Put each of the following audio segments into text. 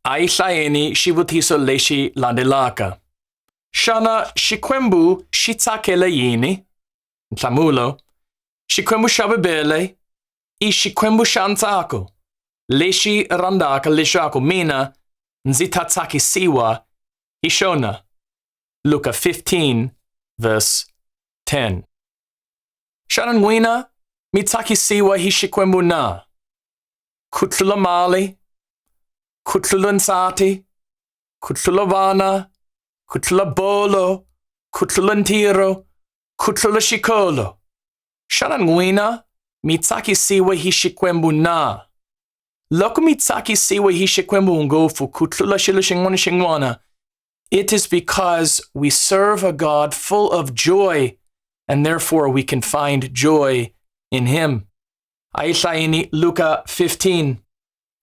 Ai hlaeni xivutiso lexi landzelaka. Xana Xikwembu xi tsakela yini? Nhlamulo, Xikwembu xa Bibele i Xikwembu xa ntsako lexi rhandzaka leswaku mina ndzi ta tsakisiwa hi xona. Luka 15 verse 10 Xana n'wina mi tsakisiwa hi Xikwembu na? Kutlula Mali, Kutlula Nsati, Kutlula Vana, Kutlula Bolo, Kutlula Ntiro, Kutlula Shikolo. Xana n'wina mi tsakisiwe hi Xikwembu na? Loko mi tsakisiwe hi Xikwembu ngopfu ku tlula xilo xin'wana xin'wana, it is because we serve a God full of joy and therefore we can find joy in him. Aishaini Luca 15.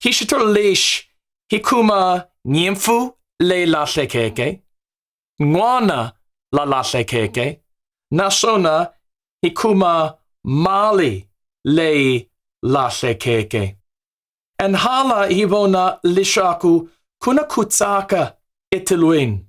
Hishitur leish hikuma nyimfu le lahlekeke. Ngwana la lahlekeke. Nasona hikuma mali le lahlekeke. En hala hivona lishaku kuna kutsaka itilwin.